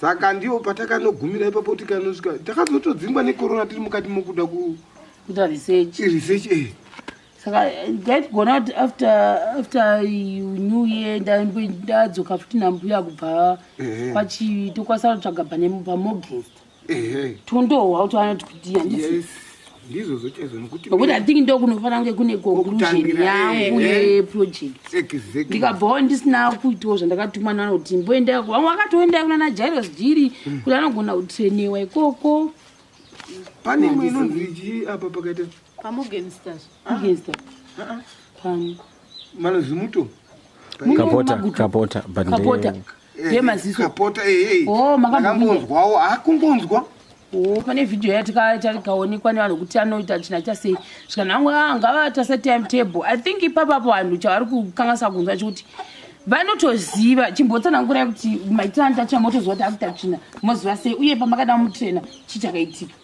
saka ndiwo patakanogumira ipapo kuti kanosvika takazotodzingwa necorona tiri mukati mokuda kuita research research eh saka ndaigona kuti after after new year ndadzoka futi nambuya kubva kwachivi tokwanisa kutsvaga pane pamogest tondohwa kuti vanoti kudii handisi ndizvozvo chaizvo nokuti nokuti i think ndokunofanira kunge kune conclusion yangu yeproject ndikabvawo ndisina kuitawo zvandakatumwa nanoti mboenda vamwe vakatoenda kuna najairos jiri hmm. kuti anogona kutrainewa ikoko pane imwe inonzi chii apa pakaita pamogenstar pano malozimuto kapota kapota kapota eh, yemaziso kapota ehe eh, oh, makambonzwawo akungonzwa oh, pane vhidhiyo yatikaonekwa nevanhu kuti anoita china chasei zvikanangu ah, ngavata setimetable i think ipapapo vanhu chavari kukanganisa kunzwa chikuti vanotoziva chimbotsanangurai kuti maitira nditacha motoziva kuti akuta china moziva sei uye pamakada mutrena chii chakaitika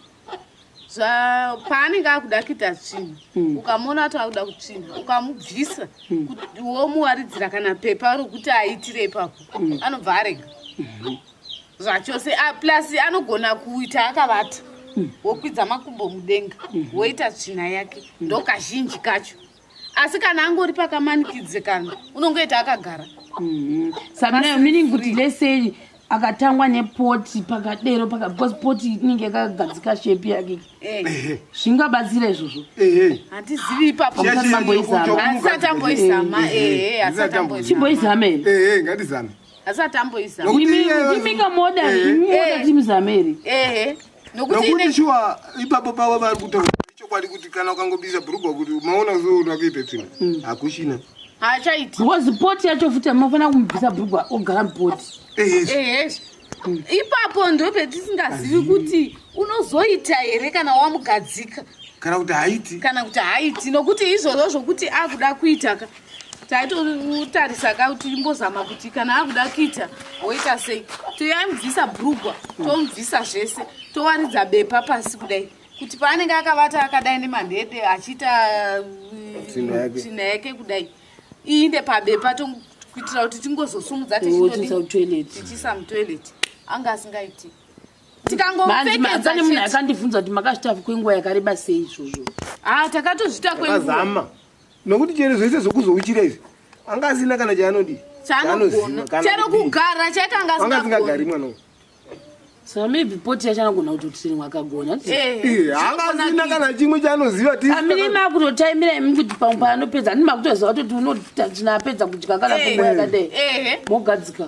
paanenge akuda kuita tsvina hmm. ukamuona ati akuda kutsvina ukamubvisa hmm. womuwaridzira kana pepa rokuti aitire ipapo hmm. anobva arega zvachose ah, plus anogona kuita akavata wokwidza makumbo mudenga woita tsvina yake ndokazhinji kacho asi kana angori pakamanikidzikana unongoita akagara mhm. sabinayo meaning kuti lesei akatangwa nepoti pakadero because poti inenge yakagadzika shepi yake eh. zvingabatsira izvozvo handizivi ipapoamboizama chimboizama imi kamoda imi oda kuti muzame here nokuti shuwa ipapo pavo vari kutaura ichokwadi kuti kana ukangobisa bhurugwa kuti maona kuzoona kuita tsvina mm. hakuchina haachaiti because poti yacho futi amafanira kumubvisa bhurugwa ogara mupoti mm. ipapo ndo petisingazivi kuti unozoita here kana wamugadzika kana kuti haiti kana kuti haiti nokuti izvozvo zvokuti akuda kuitaka taitotarisa ka kuti imbozama kuti kana akuda kuita woita sei toyamubvisa brugwa tomubvisa zvese towaridza bepa pasi kudai kuti paanenge akavata akadai nemandede achiita uh, tsvina yake kudai iinde pabepa kuitira kuti tingozosumudza tichiisa mutoilet anga asingaiti tikangopfekedza nemunhu akandibvunza kuti makazvitafi kwenguva yakareba sei izvozvo ha ah, takatozvita kwenguva nokuti chero zvese zvokuzouchira izvi anga asina kana chaanodii chero kugara chaita anga asingagari mwana uyu so maybe poti yacho anagona kutotiri wakagona eh, eh, haasina kana chimwe chaanoziva amine makutotaimira imi kuti pamwe paanopedza ani makutoziva kutoti unotatinapedza kudya kana eh, kungo yakadai mogadzika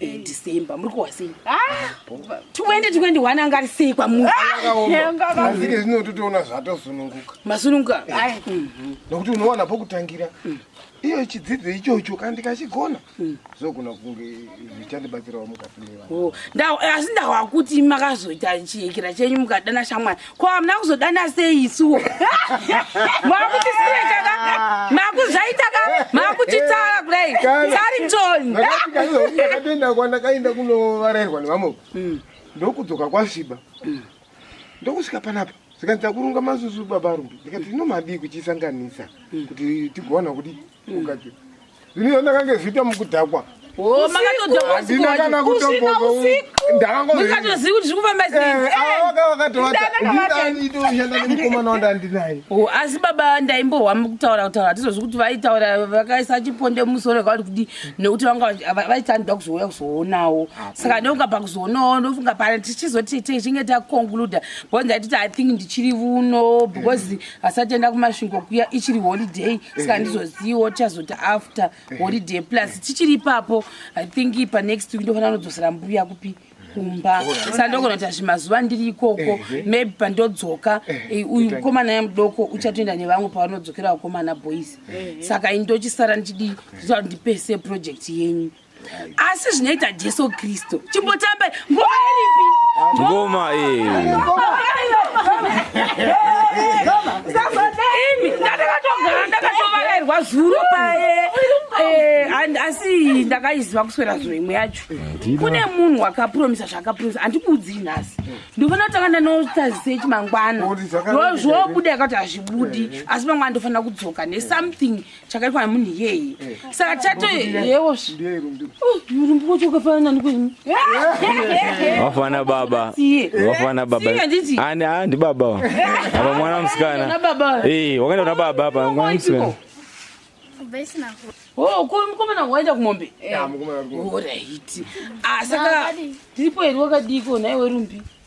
eh, december muri kuhwa sei 2021 ah, anga ari sei kwamuazike ah, zvino totoona zvatosununguka masununguka mhm. nokuti unowana pokutangira mm. iyo chidzidzo ichocho kana ndikachigona mm. zvogona kunge zvichandibatsirawo mukati mevanhu oh, asi ndawakuti makazoita chiyekera chenyu mukadana shamwari ko hamuna kuzodana sei isuwo makutisiya chaka makuzvaita ka makutitara kudai saritoni ndakatoenda kwandakaenda kunovarairwa nevamwe mm. ndokudzoka kwasviba mm. ndokusvika panapa zvikanzi takurunga mazuzu baba rumbi ndikati inomadii kuchisanganisa mm. kuti tigowana kuti ukati ini zvandakange zviita mukudhakwa Oh, makatodhakwandina kana kutombozondakangozvikatozivi kuti zvikufamba seivakavakatovaaidoshanda eh, nemukomana wanda ndinaye oh, asi baba ndaimbohwa mukutaura kutaura hatizozvi kuti vaitaura vakaisa chiponde mumusoro vakauri kudi nekuti vanga vaiti anoda kuzouya kuzoonawo saka neuka pakuzoonawo ndofunga pane tichizoti tichinge taconcluda because ndaititi i think ndichiri vuno because asati enda kumasvingo kuya ichiri holiday saka handizoziviwo tichazoti after holiday plus tichiri ipapo i think panext week ndofanira kunodzosera mbuya kupi kumba saka ndogona kuti azvimazuva ndiri ikoko maybe pandodzoka eh, uyu mukomana yamudoko uchatoenda nevamwe pavanodzokera vakomana boys saka ini ndochisara ndichidi ndichita kuti ndipese project yenyu asi zvinoita jesu kristu chimbotambai ngoma iripi ngoma imi ndandakatogara ndakatovarairwa zuro paye eh, asi ndakaiziva kuswera zuro imwe yacho kune munhu wakapromisa zvaakapromisa handikuudzii nhasi ndofana kutanga ndanotazisei chimangwana ndozvobuda yakati hazvibudi asi mangwana ndofanira kudzoka nesomething chakaitwa nemunhu iyeye eh. saka chato yewo urumbuko chokafana nani kwenyu vafana baba vafana baba ani a ndi baba wa apa mwana musikana eh, wakaenda kuna baba apa mwana musikana oh, mukomana waenda kumombe eh. ah, saka tiripo here wakadii ko nhaiwe rumbi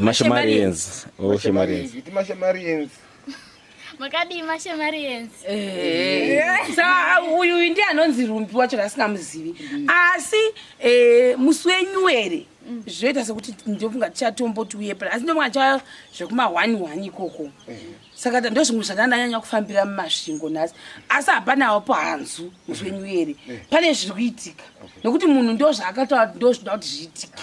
Mashemarians. Oh, Shemarians. Iti Mashemarians. Makadii Mashemarians? Eh. Saka uyu ndiye anonzi Rumbi wacho asingamuzivi. Asi eh musi wenyu ere? Mm. Zvoita sekuti ndofunga tichatomboti uye pala. Asi ndofunga cha zvekuma 1 1 ikoko. Eh. Saka ndozvimwe zvandanyanya kufambira mumasvingo nhasi. Asi hapana wapo hanzu musi wenyu ere? Eh. Pane zviri kuitika. Nokuti munhu ndozvaakataura ndozvida kuti zviitike.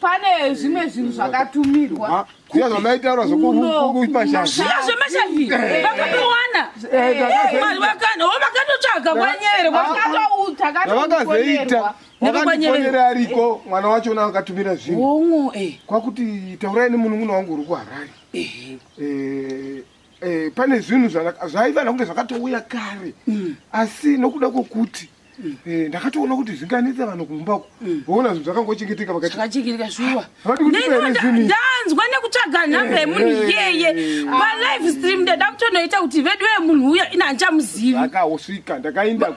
pane zvimwe zvinhu zvakatumirwa ah, zviya zvamaitaura zvekumashaviya zvemashavi vakapiwana mari vakana o vakatotsvaga kwanyere vakatoutavakazoita vakandifonyere ariko mwana wacho una akatumira zvinhu kwakuti taurai nemunun'una wangu uri kuharari Eh, eh, pane zvinhu zvana- zvaiva nakunge zvakatouya kare Mm. asi nokuda kwokuti eh, ndakatoona kuti zvinganetsa vanhu kumba uko voona zvinhu zvakangochengeteka vakati zvakachengereka shuwa Vati kuti Ndinoda- pere zvimi. ndanzwa nekutsvaga nhamba yemunhu Eh, iyeye eh. palive stream ndada kutonoita kuti vedu vemunhu uya ina handichamuzivi ndakawosvika ndakaenda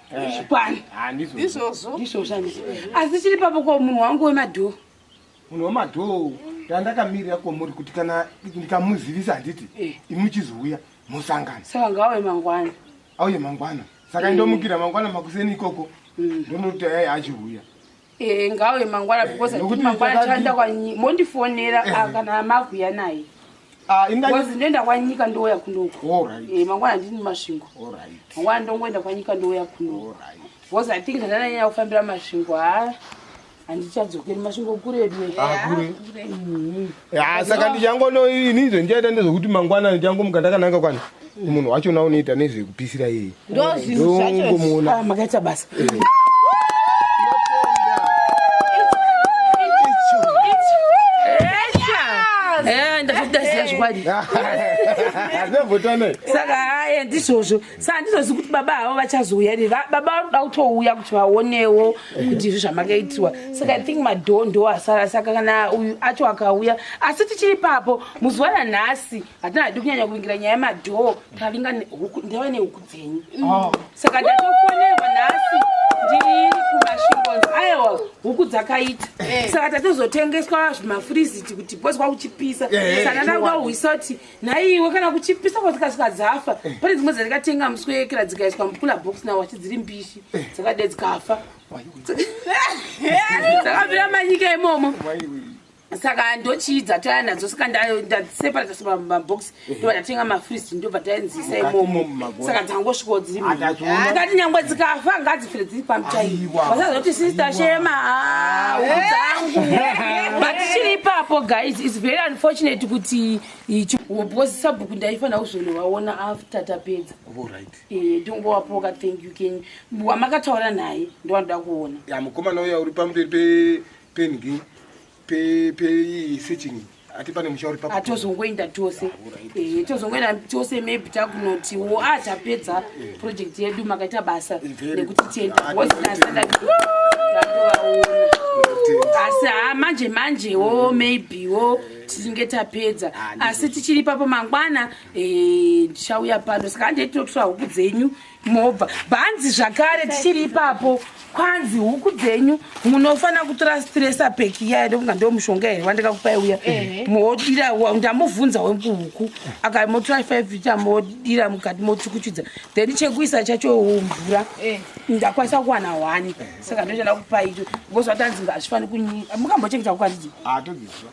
zvikwani izvozvo izvozvo asi chiri papo ko munhu wangu wemadhoo munhu wemadhoo ndandakamirira kwomuri kuti kana ndikamuzivisa handiti eh. imuchizouya musangano saka ngauye mangwana auye mangwana saka eh. ndomukira mangwana makuseni ikoko mm. ndonoti achiuya Eh, ngawe mangwana because eh, kuti mangwana chaenda kwanyika mondifonera eh. ah, kana makuya naye ah, because ndoenda kwanyika ndouya kunoko eh, mangwana ndini masvingo mangwana ndongoenda kwanyika ndouya kunoko because i think ndananyanya kufambira masvingo ha ah, handichadzokeri masvingo kuredu ah, mm-hmm. Ah, saka ndichangono ini izvo ndichaita ndezvekuti mangwana ndichangomuka ndakananga kwani munhu wachona unoita nezvekupisira iye ndozvinzvachomuona ah, makaita basa eh. eh, ndazvikudaziva zvikwadi saka aye ndizvozvo sa handizozi kuti baba havo vachazouya ri baba vanoda kutouya kuti vaonewo kuti izvi zvamakaitiwa saka i think madhoo ndo asara saka kana uyu acho akauya asi tichiri papo muzuva ranhasi hatina hadi kunyanya kuvingira nyaya yemadhoo tavinga ndava nehuku dzenyu oh. saka ndatofonerwa nhasi ndiri kumashingonzi aiwa huku dzakaita eh. saka tatozotengeswa zvimafriziti kuti pozwa kuchipisa eh, saka ndada kuda kuhwisa kuti naiwe kana kuchipisa kwadzikasvika dzafa eh. pane dzimwe dzandikatenga muswekera dzikaiswa mukula box nawo achi dziri mbishi eh. dzakade dzikafa dzakabvira manyika imomo saka ndochiidza taya nadzo saka ndaseparata semabox eh. ndobva ndatenga mafriz ndobva taenzisa imomo saka dzangosvikawo dziri tikati nyangwe dzikafa ngadzifire dziri pano chaivo vasazoti sister shema ah, dzangu but chiri ipapo guys its very unfortunate kuti because sabhuku ndaifanira kuzondovaona after tapedza eh, ndongowapoka thank you ken wamakataura naye ndovanoda kuona mukomana uya uri pamberi pengi pei searching ati pane musha uri papo atozongoenda tose eh tozongoenda tose maybe takunoti wo ah tapedza project yedu makaita basa nekuti tienda was last like asi ha manje manje wo maybe wo tinge tapedza asi tichiri papo mangwana eh ndichauya pano saka handei tinotora huku dzenyu mobva bhanzi zvakare tichiri ipapo kwanzi huku dzenyu munofanira kutora stresa peki iya ndokunga ndo mushonga here wandikakupai uya modira ndamuvhunza wekuhuku aka motora five ita modira mukati mochukuchudza then chekuisa chacho mvura ndakwanisa kuwana one saka ndochada kupai icho because watanzi ngazvifanira kunyika mukambochengeta kukwanzi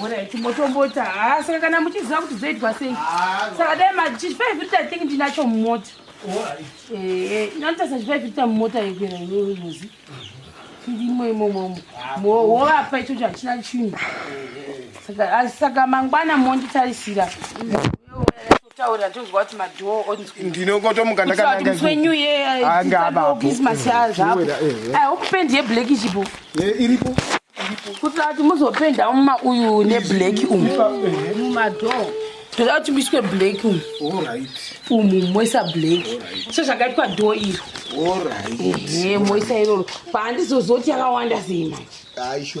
Hora chimotombota haa saka kana muchiziva kuti zvoitwa sei saka dai machifaivhirita think ndinacho mumota nanotarisa chifaivhirita mumota yekwera iyoyozi chirimo imomo movapa ichocho hachina chinhu saka mangwana monditarisira taura tonzwa kuti madhoo onzwi ndinokotomuka ndakanamuswe new year anga abapo christmas yaa zvapo ai hope pendi yeblack ichipo iripo kuitira kuti muzopenda muma uyu neblack umu mumadhoo toda kuti muiswe black umu umu moisa black so zvakaitwa dhoo iro moisa iroro paandizozoti yakawanda sei manje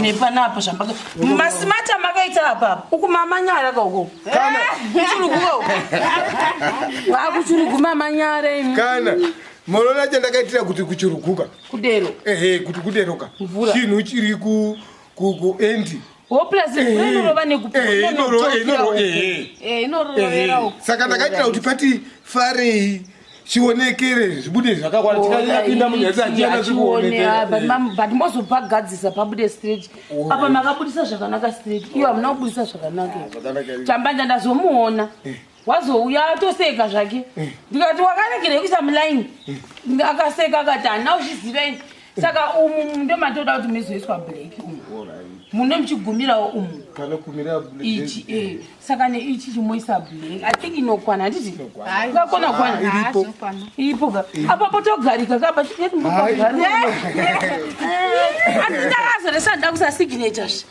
nepanapa zvamaka masimati amakaita apapa uku mamanyara ka uko kuchuruguka uko akuchurugu mamanyara imi kana munoona chandakaitira kuti kuchuruguka kudero ehe kuti kuderoka mvura chinhu chiri ku ku ku endi saka ndakaitira kuti pati farei chionekere zvibude zvakakwana tikapinda munyatsachianachioonekerbut mozopagadzisa pabude straight apa makabudisa zvakanaka straight iyo hamuna kubudisa zvakanaka chambanja ndazomuona eh. wazouya atoseka zvake eh. ndikati wakaregerei kuisa muline eh. akaseka akati hana uchiziva ini saka umu ndo matoda kuti mezoiswa black umu muno muchigumirawo umu ichi eh. saka neichi chimoisa black i think inokwana handiti ngakona kwana iripo ka apapo togarika kapa chitietingoaazoresa nda kusasignature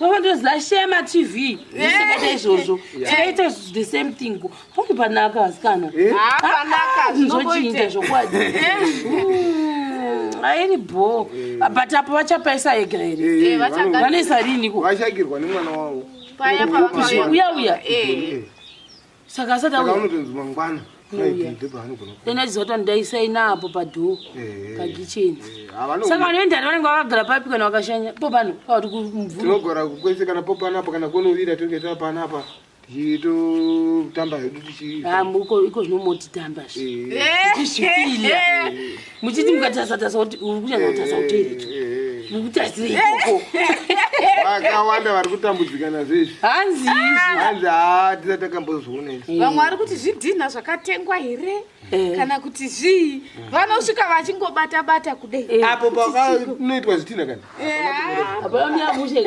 vavandoziva shema tv zvisakata eh. izvozvo tikaita eh. the same thing poti panaka vasikana eh. ah, zvinochinja zvokwadi airi mm, bho but apo vachapaisa ega here vanoisa riniko vashagirwa nemwana wavo uya uya saka asati auya unotonzi mangwana then achizoto ndaisaina apo padhoo eh, eh, pakicheni eh, saka vanoendani vanenge vakagara papi kana vakashanya popano pavati kumvuratinogara kwese kana popanapa kana kunovira tinenge tapanapa tichitotamba hedu tichiiko ah, zvinomotitamba zviizvifile muchiti mukatasatatsa kuti uri kunyanya kutasa kuteeretu mukutaisire ikoko vakawanda vari kutambudzika nazvo izvi hanzi hanzi haa tisa takambozviona izvi vamwe vari kuti zvidhinha zvakatengwa here eh. kana kuti zvii vanosvika vachingobata bata kudei eh. apo pakanoitwa zvidhinha kana eh, apaa miyamushe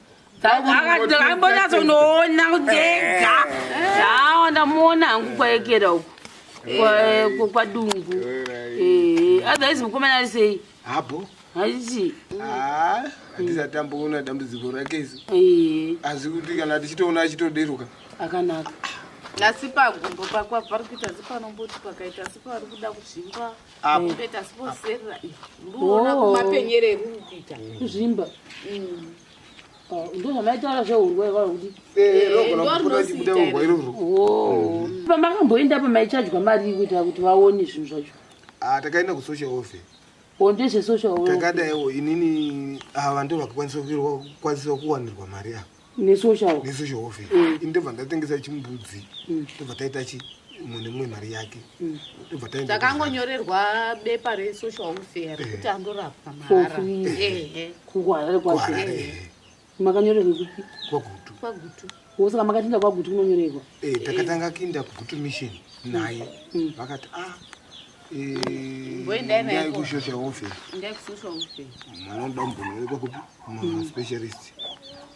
akambonyazonoona kudega awa ndamuona hangu kwaekera uku kwadungu otherwise mukomana ari sei habo haichi ah, handisatamboona dambudziko rake isu asi kuti kana tichitoona achitoderuka akanaka asi pagumbo pakwa pari kuita asi panomboti pakaita asi pari kuda kuzvimba apo peta sponsorera mbuona kumapenyere rukita kuzvimba mm. oh, ndo zvamaitaura zveurwa iwaro kuti pamakamboenda pamaichajwa mari kuita kuti vaone zvinhu zvacho ah, takaenda kusocial office oh, ndezvesocial takadaiwo inini ava ah, ndo vakakwanisa kuwanirwa mari ava nesocial nesocial welfare mm. ndobva ndatengesa chimbudzi mm. ndobva taita chi mumwe nemumwe mari yake mm. ndobva taenda takangonyorerwa bepa resocial welfare eh. rekuti andorapwa mahara kuharare kwaharare makanyorerwa kupi kwagutu kwagutu wosaka makatinda kwagutu kunonyorerwa eh, takatanga kuinda kugutu mission naye vakati ah ndaikushosha ufe manoda mumbonoonekwa kupi maspecialist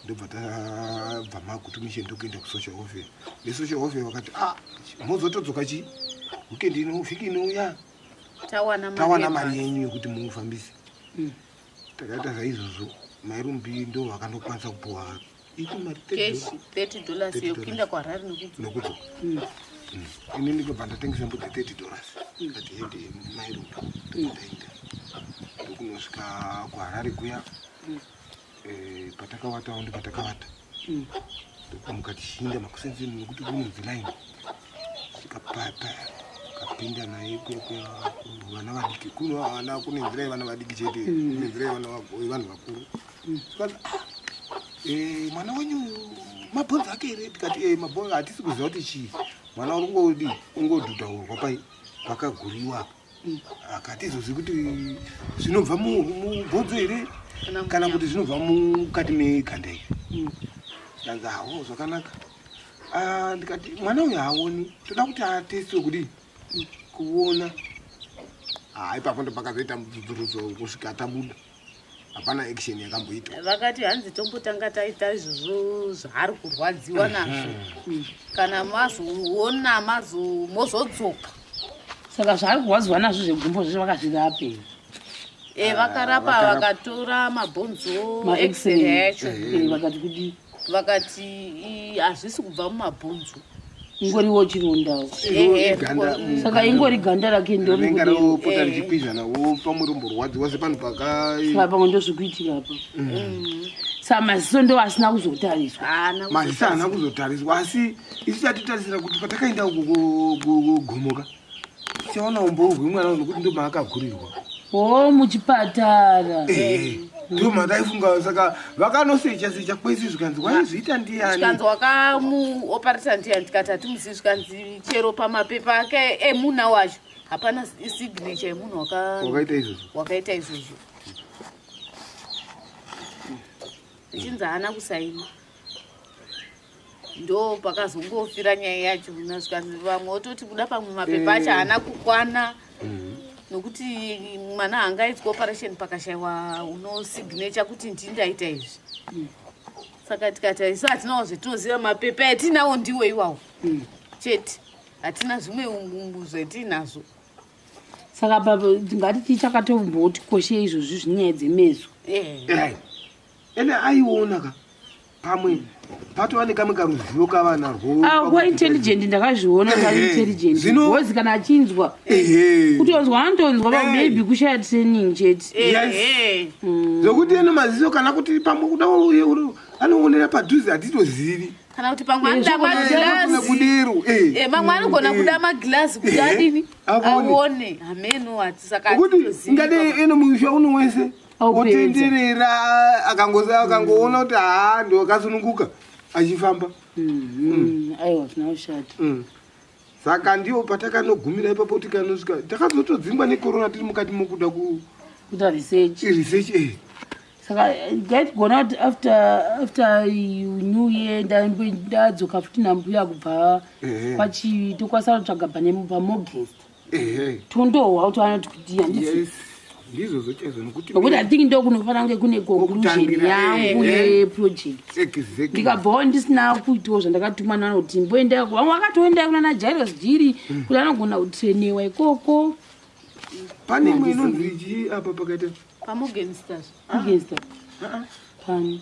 ndobva tabva makutumishe ndokuenda kusocial ofe nesocial ofe vakati a ah, mozotodzoka chii weekend ino vhiki inouya tawana mari yenyu yekuti mufambise mm. takaita zvaizvozvo mairumbi ndo vakanokwanisa kupuwa keshi 30 dollars yekuinda kuharare nekudzo mm. mm. ini ndikobva ndatengesa mbudzi 30 dollars mm. kati hede mairunga ndaenda ndokunosvika kuharare kuya eh, patakawatawo ndipatakawata ndokamuka tichinda makusenzeni nekuti kunonzi line svika paya paya kapinda naye vana vadiki kuno ana kunenzirai vana vadiki chete kunenzirai vana vaboyi vanhu vakuru mm. Eh, mwana wenyu mabhonzo ake here tikati e eh, mabhonzo hatisi kuziva kuti chii mwana uri kungodi ungodhudhaurwa pai pakaguriwa apa mm. akatizozi kuti zvinobva mubhonzo here kana kuti zvinobva mukati meganda iri mm. ndanzi hawo zvakanaka ah, ndikati mwana uyu haoni toda kuti atestiwe kudii mm. kuona haipapo ah, ndopakazoita mubvunzo kusvika tabuda hapana action yakamboitwa vakati hanzi tombotanga taita izvozvo zvaari kurwadziwa mhm. nazvo mm. kana mazoona mazo mozodzoka saka zvaari kurwadziwa nazvo zvegumbo zvizvo vakazvirapei e vakarapa vakatora mabhonzo maexrayachoo eh, eh, vakati kudii vakati hazvisi kubva mumabhonzo ingoriwo chirondawo saka ingori ganda rake ndoripota richipizhana wopa murombo rwadzi wase panhu pakapamwe ndozvikuitika apa mm. mm. sa maziso ndo asina kuzotariswa maziso haana kuzotariswa asi isu tatitarisira kuti patakaenda kugomoka Chaona umbovu hwemwana uyu nokuti ndomaakagurirwa. Oh, muchipatara. Eh. Ndiyo mataifunga saka vakanosecha secha kwese zvikanzi waizviita ndiyani? Zvikanzi wakamuoparisa ndiyani tikati hatimuzivi zvikanzi chero pamapepa ake emuna wacho hapana signature yemunhu wakaita izvozvo. Wakaita izvozvo. Ichinzi haana kusaina. ndo pakazongofira nyaya yacho nasvika vamwe ototi kuda pamwe mapepa acho eh. haana kukwana mm. nokuti mwana haangaitwa operation pakashaiwa unosignature kuti ndii ndaita izvi mm. saka tikati isu hatinawo zvetinoziva mapepa atinawo ndiwo iwawo mm. chete hatina zvimwe umbu zvetinazvo saka baba tingati tichakatomboti koshei izvozvi zvinyaya dzemeso eh. eh. ende aiona ka pamwe patova nekamwe karuzivo kavanarwoa intelligent ndakazviona intelligent bcoz kana achinzwa kutonzwa anotonzwa pamaybe kushaya training chete mm. zvokuti eno maziso kana kuti pamwe kuda anoonera padhuze hatitozivi kana kuti pamwe anoda maglasikudero eh. eh, mamwe anogona mm. kuda maglazi kuti eh. adini aone hameno hatisaka kuti ngadei eno muisha uno wese kutindirira akangoona kuti haa ndokasununguka achifamba mm-hmm. mm. aiwa zvina ushata mm. saka ndiwo patakanogumira ipapo kuti kanosvika takazotodzingwa nekorona tiri mukati mokuda kuita research research e eh. saka eh, gaitgona kuti after after new year ndadzoka futi nambuya kubva eh. kwachitokwasarotsvaga panemupamogest tondohwa kuti vanoti kudii handisi ndizvozvo chaizvo nokuti nokuti i think ndokunofanira kunge kune conclusion yangu eh, eh. yeproject ndikabvawo ndisina kuitawo zvandakatumwa nanoti mboenda vamwe vakatoenda kunana jairos jiri hmm. kuti anogona kutrainewa ikoko pane imwe inonzi chii apa pakaita pamorgensters morgenster ah, ah. pani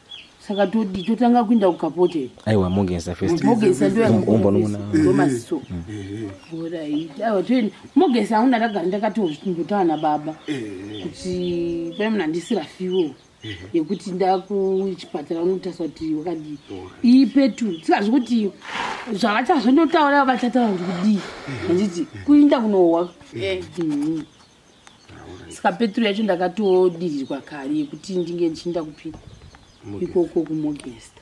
saka todi totanga kuinda kukapote aiwa mogeza festmogezandoyaombonoona maziso orit aiwa toenda mogeza auna ndagara ndakatongotaura nababa kuti pane munhu andisira fiwo yekuti ndakuchipatara unotarisa kuti wakadii iyi petu tikazi kuti zvavachazondotaura vachataura kuti kudii handiti kuinda kunohwa saka petro yacho ndakatodirirwa kari yekuti ndinge ndichiinda kupi ikoko kumogesta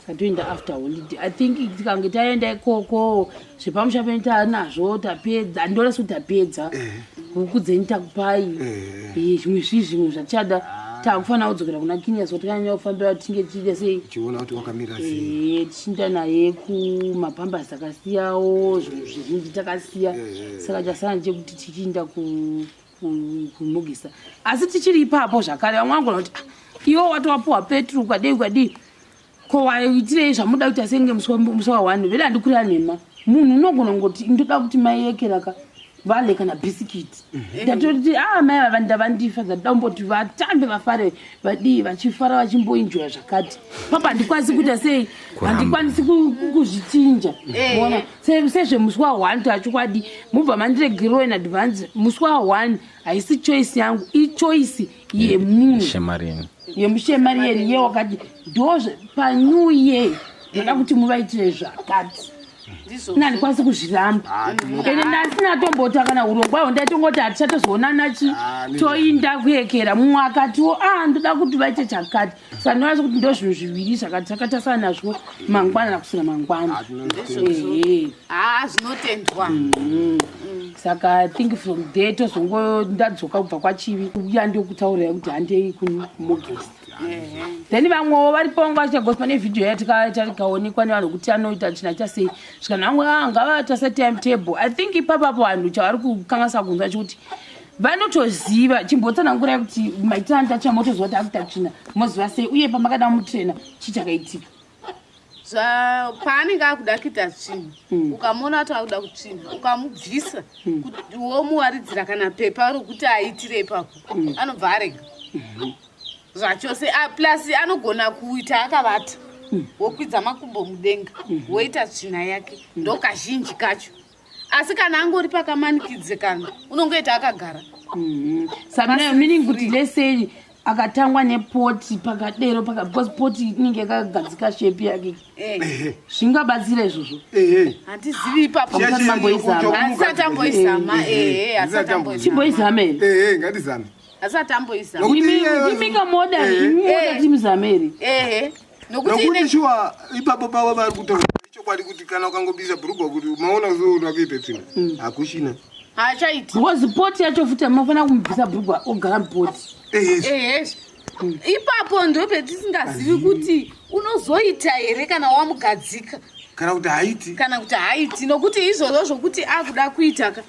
satoenda after holiday i think tikange taenda ikoko zvepamusha penyu taanazvo tapedza andiona sekuti tapedza eh. huku dzenyu takupai eh. Eh, zvimwe zvii zvimwe zvatichada ah. takufanira kudzokera kuna kinia so tikanyanya kufambira tinge tichiita sei tiona kuti wakamira sei chinda naye kumapambasi akasiyawo zvinhu zvizhinji takasiya eh. saka chasana chekuti tichiinda kumugisa asi tichiri ipapo zvakare vamwe vangona kuti ah, iwo watowapuwa petro kwadei kwadii ko waitirei zvamuda kuti asenge musi wa one vele handikurira nhema munhu unogona ngoti ndoda kuti maiyekeraka vale kana bhisikiti mhm. ndatoti a ah, mai vava ndavandifa zvakuda kumboti vatambe vafare vadii vachifara vachimboinjoya zvakati papa handikwanisi kuita sei handikwanisi kuzvichinja eh. ona sezvemusi wa one toachokwadi mubva mandiregerwa in advance musi wa one haisi choice yangu ichoice yemunhu yemushemariyeni ye wakati ndozve panew year ndoda kuti muvaitire zvakati ini handikwanisi kuzviramba ah, ende ndasina tombota kana urongwa ho ndaitongoti hatichatozoonana chi ah, toinda kuyekera mumwe akatiwo a ah, ndoda kuti vaite chakati saka ndonasi kuti ndo zvinhu zviviri zvakati zvakatasana nazvo mangwana nakusina mangwana haa zvinotendwa mm-hmm. saka think from there tozongo ndadzoka kubva kwachivi uya ndokutaurira kuti handei kumogesti then vamwewo vari pavo nguva chagoswa nevhidhiyo yatikaonekwa nevanhu kuti anoita china chasei zvikanhu vamwe ah, ngavatase time table i think ipapapo vanhu chavari kukanganisa kunzwa chikuti vanotoziva chimbotsanangurai kuti maitira nditatsvina motoziva kuti akuta tsvina moziva sei uye pamakada mutrena chii chakaitika paanenge akuda kuita tsvina hmm. ukamona kuti akuda kutsvina ukamubvisa hmm. womuwaridzira kana pepa rokuti aitire ipapo hmm. anobva arega zvachose ah, plus anogona kuita akavata wokwidza makumbo mudenga woita tsvina yake ndokazhinji kacho asi kana angori pakamanikidzikana unongoita akagara mm-hmm. sabinayo meaning kuti lesei akatangwa nepoti pakadero because poti inenge yakagadzika shepi yake eh. zvingabatsira izvozvo handizivi ipapoamboizama imika moda kuti muzame here nokuti shuwa ipapo pavo vari kutaura ichokwadi kuti kana ukangobisa bhurugwa kuti maona kuzoona kuita tsvina mm. hakuchina haachaiti because poti yacho futi amafanira kumubvisa bhurugwa ogara mupoti mm. ipapo ndo petisingazivi kuti unozoita here kana wamugadzika kana kuti haiti kana kuti haiti nokuti izvozvo zvokuti akuda kuita ka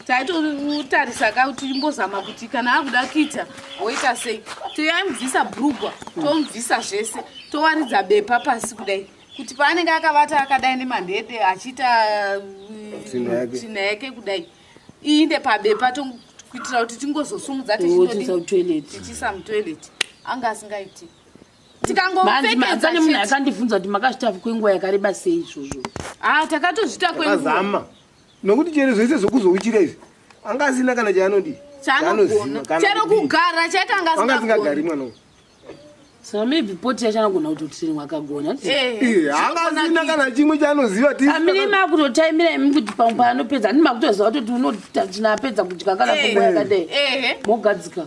taitotarisa ka kuti imbozama kuti kana akuda kuita woita sei toyamubvisa brugwa tomubvisa zvese towaridza bepa pasi kudai kuti paanenge akavata akadai nemandede achiita uh, tsvina yake kudai iinde pabepa kuitira kuti tingozosumudza tichiisa mutoilet anga asingaiti tikangoanzi munhu akandibvunza kuti makazvitafi kwenguva yakareba sei izvozvo a ah, takatozvita kwenguva nokuti chero zvese zvokuzouchira izvi anga asina kana chaanodii chero kugara chaita anga asingagari mwana uyu so maybe poti yacho anogona kutotiri mwakagona haasina kana chimwe chaanoziva amine makutotaimira imi kuti pamwe paanopedza andi makutoziva kutoti unotatinapedza kudya kana kumwa yakadai mogadzika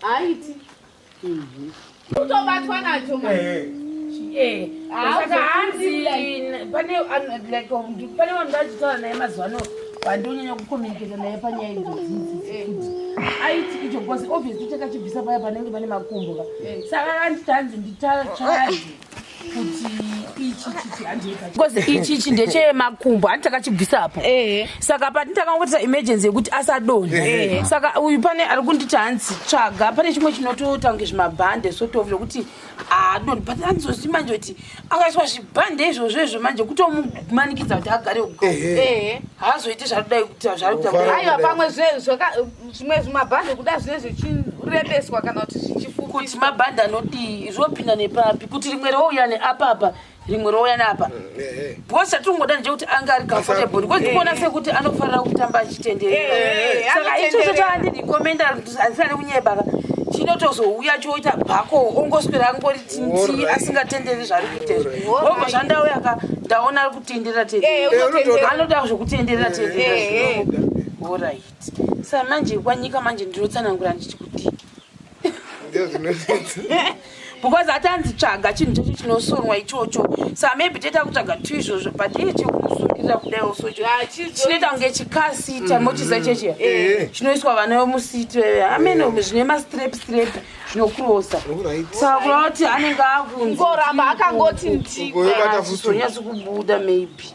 Haiti. Mhm. Kutobatwa nacho mwana. Eh, eh. Eh, saka hanzi pane vanhu vachitaura naye mazuva ano vandonyanya kukomuniketa naye panyaya idzodzidzikuti aiti icho bcause obviously chakachibvisa paya panenge pane makumbo ka saka anditanzi ndichachadi because ichi ichi ndechemakumbo handi takachibvisa apo eh. saka pati takangoitisa emergency yekuti asadonha eh. eh. saka uyu pane ari kunditi hanzi tsvaga pane chimwe chinotoita kunge zvimabhande sotof lokuti adonhi but andizosi manje kuti akaiswa zvibhande izvozvo izvo manje kutomumanikidza kuti agare uko haazoite zvaadai kuita zvaaiwa pamwe zvimwe zvimabhande kuda zvine zvichirebeswa kana kuti zvichifupi kuti mabhande anodii zvopinda nepapi kuti rimwe rouya neapapa rimwe rouya neapa mm, eh, eh. because chatingoda nje kuti anga ari comfortable because ndikuona sekuti anofanira kutamba achitendereasaka eh, ichocho chaandirekomenda handisani kunyebaka chinotozouya choita bhako ongoswera angori tinti asingatenderi zvari kuitezvo obva zvandauya ka ndaona ari kutenderera tendera anoda zvekutenderera tendera orit sa manje kwanyika manje ndinotsanangura ndichi kuti because hatanzi tsvaga chinhu chacho chinosonwa ichocho sa maybe toita kutsvaga tu izvozvo but iye chekumusungirira kudai also ah, chinoita kunge chikasita mm-hmm. motiza chechi eh, eh. chinoiswa vana vemusiti veve amene eh, zvine mastrep strep zvinokurosa sa kura kuti anenge akunzoramba akangoti ndikonyatsi kubuda maybe